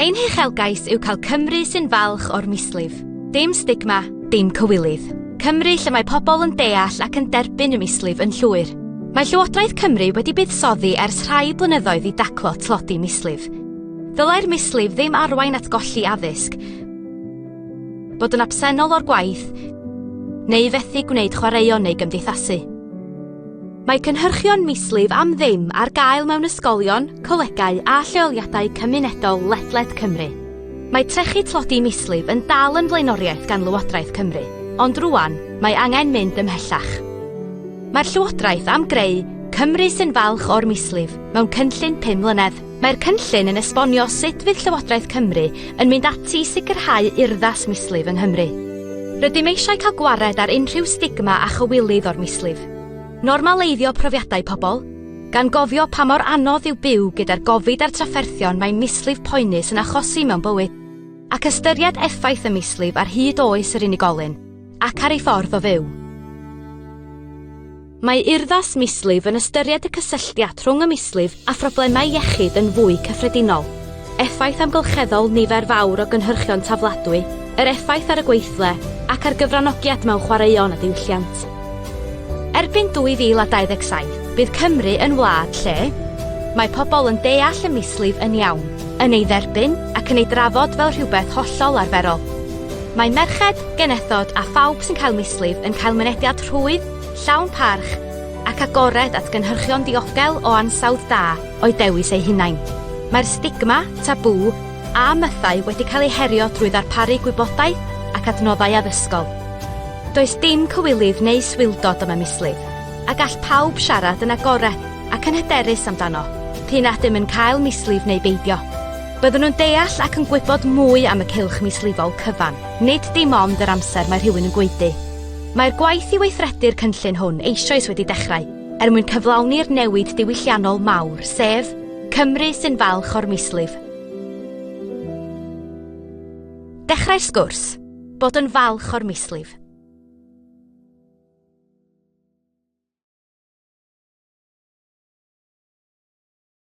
Ein huchelgais yw cael Cymru sy'n falch o'r mislif. Dim stigma, dim cywilydd. Cymru lle mae pobl yn deall ac yn derbyn y mislif yn llwyr. Mae Llywodraeth Cymru wedi buddsoddi ers rhai blynyddoedd i daclo tlodi mislif. Ddylai'r mislif ddim arwain at golli addysg, bod yn absennol o'r gwaith, neu fethu gwneud chwaraeon neu gymdeithasu. Mae cynhyrchion mislif am ddim ar gael mewn ysgolion, colegau a lleoliadau cymunedol ledled Cymru. Mae trechu tlodi mislif yn dal yn flaenoriaeth gan Lywodraeth Cymru, ond rwan mae angen mynd ymhellach. Mae'r Llywodraeth am greu Cymru sy'n falch o'r mislif mewn cynllun pum mlynedd. Mae'r cynllun yn esbonio sut fydd Llywodraeth Cymru yn mynd ati i sicrhau urddas mislif yng Nghymru. Rydym eisiau cael gwared ar unrhyw stigma a chywilydd o'r mislif. Normaleiddio profiadau pobl, gan gofio pa mor anodd yw byw gyda'r gofid a'r trafferthion mae mislif poenus yn achosi mewn bywyd, ac ystyried effaith y mislif ar hyd oes yr unigolyn ac ar ei ffordd o fyw. Mae urddas mislif yn ystyried y cysylltiad rhwng y mislif a phroblemau iechyd yn fwy cyffredinol, effaith amgylcheddol nifer fawr o gynhyrchion tafladwy, yr effaith ar y gweithle, ac ar gyfranogiad mewn chwaraeon a diwylliant. Erbyn 2027, bydd Cymru yn wlad lle mae pobl yn deall y mislif yn iawn, yn ei dderbyn ac yn ei drafod fel rhywbeth hollol arferol. Mae merched, genethod a phawb sy'n cael mislif yn cael mynediad rhwydd, llawn parch ac agored at gynhyrchion diogel o ansawdd da o'u dewis eu hunain. Mae'r stigma, tabŵ, a mythau wedi cael eu herio drwy ddarparu gwybodaeth ac adnoddau addysgol. Does dim cywilydd neu swildod am y mislif, a gall pawb siarad yn agored ac yn hyderus amdano, p'un a ydym yn cael mislif neu beidio. Byddwn yn deall ac yn gwybod mwy am y cylch mislifol cyfan, nid dim ond yr amser mae rhywun yn gwaedu. Mae'r gwaith i weithredu'r cynllun hwn eisoes wedi dechrau er mwyn cyflawni'r newid diwylliannol mawr, sef Cymru sy'n falch o'r mislif. Dechrau'r sgwrs, bod yn falch o'r mislif.